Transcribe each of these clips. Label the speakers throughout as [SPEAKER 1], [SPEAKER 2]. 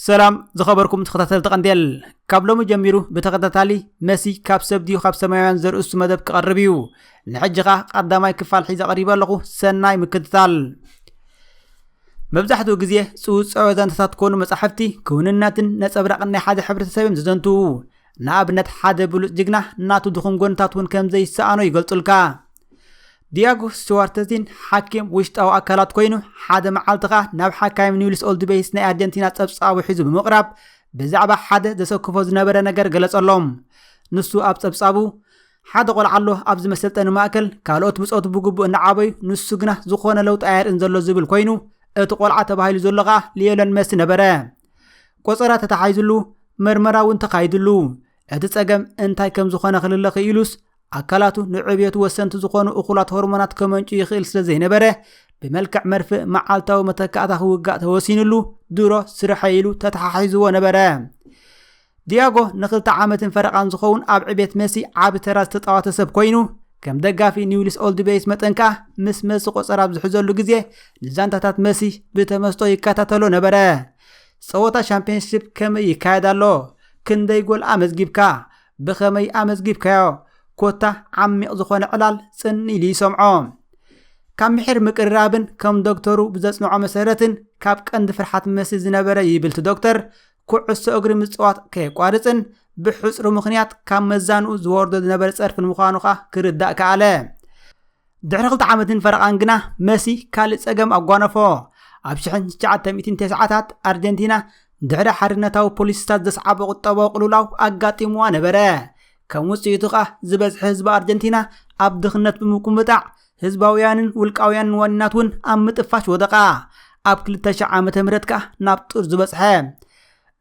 [SPEAKER 1] ሰላም ዝኸበርኩም ተኸታተልቲ ቀንዴል ካብ ሎሚ ጀሚሩ ብተኸታታሊ መሲ ካብ ሰብ ድዩ ካብ ሰማያውያን ዘርእሱ መደብ ክቐርብ እዩ ንሕጂ ኸዓ ቀዳማይ ክፋል ሒዘ ቀሪበ ኣለኹ ሰናይ ምክትታል መብዛሕትኡ ግዜ ፅውፅዖ ዛንታታት ኮኑ መፃሕፍቲ ክውንነትን ነፀብራቕን ናይ ሓደ ሕብረተሰብ እዮም ዝዘንትዉ ንኣብነት ሓደ ብሉፅ ጅግና ናቱ ድኹም ጎንታት እውን ከም ዘይሰኣኖ ይገልጹልካ ዲያጎ ስቲዋርተዚን ሓኪም ውሽጣዊ ኣካላት ኮይኑ ሓደ መዓልቲ ከኣ ናብ ሓካይም ኒውልስ ኦልድቤይስ ናይ ኣርጀንቲና ጸብጻቡ ሒዙ ብምቕራብ ብዛዕባ ሓደ ዘሰክፎ ዝነበረ ነገር ገለጸሎም ንሱ ኣብ ጸብጻቡ ሓደ ቆልዓ ኣሎ ኣብዚ መሰልጠኒ ማእከል ካልኦት ብፆቱ ብግቡእ እናዓበዩ ንሱ ግና ዝኾነ ለውጢ ኣየርእን ዘሎ ዝብል ኮይኑ እቲ ቆልዓ ተባሂሉ ዘሎ ከኣ ሊዮነል መሲ ነበረ ቆፀራ ተተሓይዝሉ መርመራ እውን ተኻይድሉ እቲ ፀገም እንታይ ከም ዝኾነ ክልለ ክኢሉስ ኣካላቱ ንዕብየቱ ወሰንቲ ዝኾኑ እኹላት ሆርሞናት ከመንጩ ይኽእል ስለ ዘይነበረ ብመልክዕ መርፍእ መዓልታዊ መተካእታ ክውጋእ ተወሲንሉ ድሮ ስርሐ ኢሉ ተተሓሒዝዎ ነበረ ዲያጎ ንክልተ ዓመትን ፈረቓን ዝኸውን ኣብ ዕቤት መሲ ዓቢ ተራ ዝተጻወተ ሰብ ኮይኑ ከም ደጋፊ ኒውሊስ ኦልድ ቤይስ መጠን ከኣ ምስ መሲ ቆጸራ ኣብ ዝሕዘሉ ግዜ ንዛንታታት መሲ ብተመስጦ ይከታተሎ ነበረ። ጸወታ ሻምፒየንስሺፕ ከመይ ይካየድ ኣሎ? ክንደይ ጎል ኣመዝጊብካ? ብኸመይ ኣመዝጊብካዮ? ኮታ ዓሚቕ ዝኾነ ዕላል ጽን ኢሉ ይሰምዖ። ካብ ምሒር ምቅርራብን ከም ዶክተሩ ብዘጽንዖ መሰረትን ካብ ቀንዲ ፍርሓት መሲ ዝነበረ ይብልቲ ዶክተር ኩዕሶ እግሪ ምፅዋት ከየቋርፅን ብሕፅሩ ምክንያት ካብ መዛንኡ ዝወርዶ ዝነበረ ፀርፍን ምዃኑ ከዓ ክርዳእ ከኣለ ድሕሪ ክልተ ዓመትን ፈረቓን ግና መሲ ካልእ ፀገም ኣጓነፎ ኣብ 1990ታት ኣርጀንቲና ድሕሪ ሓርነታዊ ፖሊሲታት ዘስዓበ ቁጠባዊ ቅልውላው ኣጋጢምዋ ነበረ ከም ውፅኢቱ ከዓ ዝበዝሐ ህዝቢ ኣርጀንቲና ኣብ ድኽነት ብምቁምጣዕ ህዝባውያንን ውልቃውያንን ዋኒናት እውን ኣብ ምጥፋሽ ወደቓ ኣብ 2000 ዓ ም ከኣ ናብ ጡር ዝበጽሐ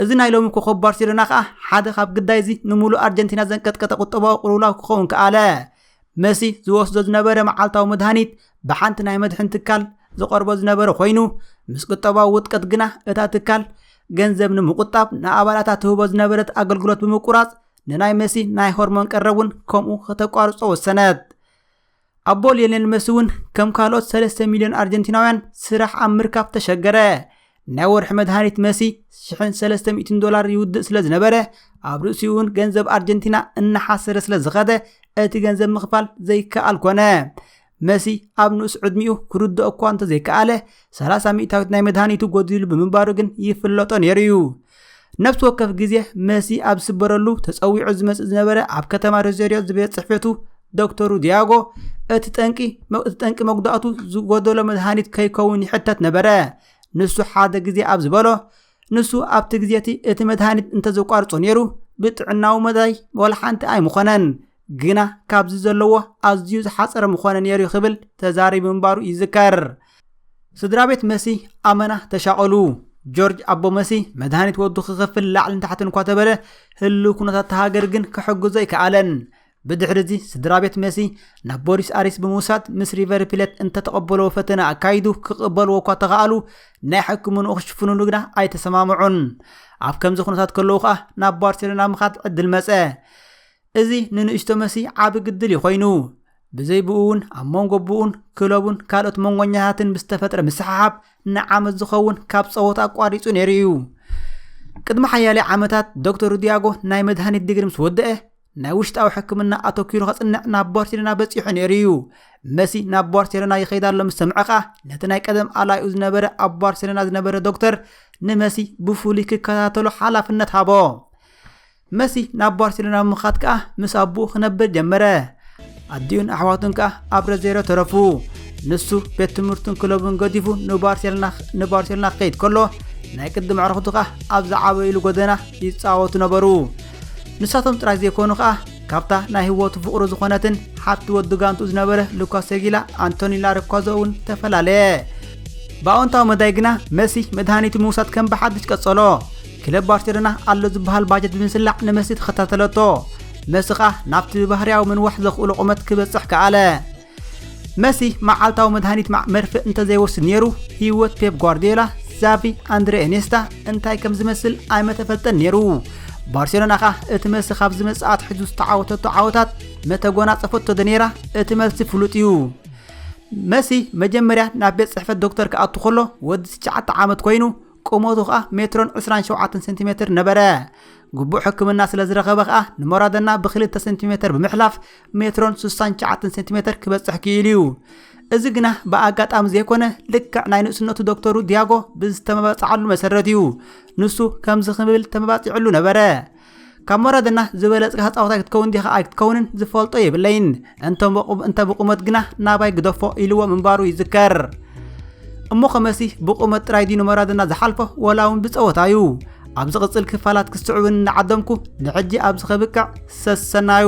[SPEAKER 1] እዚ ናይ ሎሚ ኮኸብ ባርሴሎና ከኣ ሓደ ካብ ግዳይ እዚ ንምሉእ ኣርጀንቲና ዘንቀጥቀጠ ቁጠባዊ ቅልውላው ክኸውን ከኣለ መሲ ዝወስዶ ዝነበረ መዓልታዊ መድሃኒት ብሓንቲ ናይ መድሕን ትካል ዝቐርቦ ዝነበረ ኮይኑ ምስ ቁጠባዊ ውጥቀት ግና እታ ትካል ገንዘብ ንምቁጣብ ንኣባላታ ትህቦ ዝነበረት ኣገልግሎት ብምቁራፅ ንናይ መሲ ናይ ሆርሞን ቀረብ እውን ከምኡ ከተቋርፆ ወሰነት ኣቦ ሊዮኔል መሲ እውን ከም ካልኦት 3 ሚልዮን ኣርጀንቲናውያን ስራሕ ኣብ ምርካብ ተሸገረ። ናይ ወርሒ መድሃኒት መሲ 1300 ዶላር ይውድእ ስለ ዝነበረ ኣብ ርእሲኡ እውን ገንዘብ ኣርጀንቲና እናሓሰረ ስለ ዝኸደ እቲ ገንዘብ ምኽፋል ዘይከኣል ኮነ። መሲ ኣብ ንኡስ ዕድሚኡ ክርድኦ እኳ እንተዘይከኣለ 30 ሚእታዊት ናይ መድሃኒቱ ጎዲሉ ብምንባሩ ግን ይፍለጦ ነይሩ እዩ። ነብሲ ወከፍ ግዜ መሲ ኣብ ዝስበረሉ ተጸዊዑ ዝመጽእ ዝነበረ ኣብ ከተማ ሮዘሪዮ ዝቤት ጽሕፈቱ ዶክተሩ ዲያጎ እቲ ጠንቂ እቲ ጠንቂ መጉዳእቱ ዝጎደሎ መድሃኒት ከይከውን ይሕተት ነበረ ንሱ ሓደ ግዜ ኣብ ዝበሎ ንሱ ኣብቲ ግዜ እቲ እቲ መድሃኒት እንተዘቋርጾ ነይሩ ብጥዕናዊ መዳይ ወላ ሓንቲ ኣይምኾነን ግና ካብዚ ዘለዎ ኣዝዩ ዝሓፀረ ምኾነ ነይሩ ክብል ተዛሪቡ ምንባሩ ይዝከር ስድራ ቤት መሲ ኣመና ተሻቐሉ። ጆርጅ ኣቦ መሲ መድሃኒት ወዱ ክኸፍል ላዕልን ታሕትን እኳ ተበለ ህልው ኩነታት እታ ሃገር ግን ክሕግዞ ኣይከኣለን። ብድሕሪ እዚ ስድራ ቤት መሲ ናብ ቦሪስ ኣሪስ ብምውሳድ ምስ ሪቨር ፕሌት እንተተቐበለዎ ፈተነ ኣካይዱ ክቕበልዎ እኳ ተኸኣሉ ናይ ሕክምንኡ ክሽፍኑሉ ግና ኣይተሰማምዑን። ኣብ ከምዚ ኩነታት ከለዉ ከኣ ናብ ባርሴሎና ምኻድ ዕድል መጸ። እዚ ንንእሽቶ መሲ ዓቢ ግድል እዩ ኮይኑ። ብዘይ ብኡ እውን ኣብ መንጎ ብኡን ክለቡን ካልኦት መንጎኛታትን ብዝተፈጥረ ምስሓሓብ ንዓመት ዝኸውን ካብ ጸወታ ኣቋሪጹ ነይሩ እዩ። ቅድሚ ሓያሌ ዓመታት ዶክተር ሩድያጎ ናይ መድሃኒት ዲግሪ ምስ ወደአ ናይ ውሽጣዊ ሕክምና ኣተኪሩ ከጽንዕ ናብ ባርሴሎና በጺሑ ነይሩ እዩ መሲ ናብ ባርሴሎና ይኸይድ ኣሎ ምስ ሰምዐ ከኣ ነቲ ናይ ቀደም ኣላይኡ ዝነበረ ኣብ ባርሴሎና ዝነበረ ዶክተር ንመሲ ብፍሉይ ክከታተሎ ሓላፍነት ሃቦ መሲ ናብ ባርሴሎና ብምኻድ ከኣ ምስ ኣቦኡ ክነብር ጀመረ። ኣዲኡን ኣሕዋቱን ከኣ ኣብ ረዜሮ ተረፉ። ንሱ ቤት ትምህርቱን ክለቡን ገዲፉ ንባርሴሎና ክኸይድ ከሎ ናይ ቅድሚ ኣዕርኽቱ ከኣ ኣብ ዝዓበይሉ ጎደና ይፃወቱ ነበሩ ንሳቶም ጥራይ ዘይኮኑ ከኣ ካብታ ናይ ህይወቱ ፍቕሩ ዝኾነትን ሓቲ ወዲ ጋንቱ ዝነበረ ሉካስ ሰጊላ ኣንቶኒ ላርኳዞ እውን ተፈላለየ ብኣወንታዊ መዳይ ግና መሲ መድሃኒቱ ምውሳድ ከም ብሓድሽ ቀጸሎ ክለብ ባርሴሎና ኣሎ ዝበሃል ባጀት ብምስላዕ ንመሲ ተኸታተለቶ መሲ ኸኣ ናብቲ ብባህርያዊ ምንዋሕ ዘኽእሎ ቁመት ክበጽሕ ከኣለ መሲ መዓልታዊ መድሃኒት ማዕ መርፍእ እንተዘይወስድ ነይሩ ህይወት ፔፕ ጓርዲዮላ ዛቪ ኣንድሬ ኤኔስታ እንታይ ከም ዝመስል ኣይመተፈልጠን ነይሩ ባርሴሎና ኸኣ እቲ መሲ ካብ ዝመጽኣት ሕዙ ዝተዓወተቶ ዓወታት መተጎናጸፈቶ ዶ ነይራ እቲ መልሲ ፍሉጥ እዩ መሲ መጀመርያ ናብ ቤት ጽሕፈት ዶክተር ክኣቱ ከሎ ወዲ ትሽዓተ ዓመት ኮይኑ ቁመቱ ከኣ ሜትሮን ዕስራን ሸውዓተን ሴንቲሜትር ነበረ። ግቡእ ሕክምና ስለ ዝረኸበ ከኣ ንሞራደና ብክልተ ሴንቲሜትር ብምሕላፍ ሜትሮን ስሳን ሸዓተን ሴንቲሜትር ክበጽሕ ክኢሉ እዩ። እዚ ግና ብኣጋጣሚ ዘይኮነ ልክዕ ናይ ንእስነቱ ዶክተሩ ዲያጎ ብዝተመባጽዓሉ መሰረት እዩ። ንሱ ከምዚ ክብል ተመባጺዕሉ ነበረ። ካብ መረድና ዝበለጽካ ተጻዋታይ ክትከውን ዲኻ ኣይክትከውንን ዝፈልጦ የብለይን እንተ ብቑመት ግና ናባይ ግደፎ ኢልዎ ምንባሩ ይዝከር እሞ ከመሲ ብቑመት ጥራይ ድዩ ንመረድና ዝሓልፎ ወላ እውን ብጸወታ እዩ ኣብ ዝቕጽል ክፋላት ክስዕብን እናዓደምኩ ንሕጂ ኣብዚ ከብቅዕ ሰሰናዩ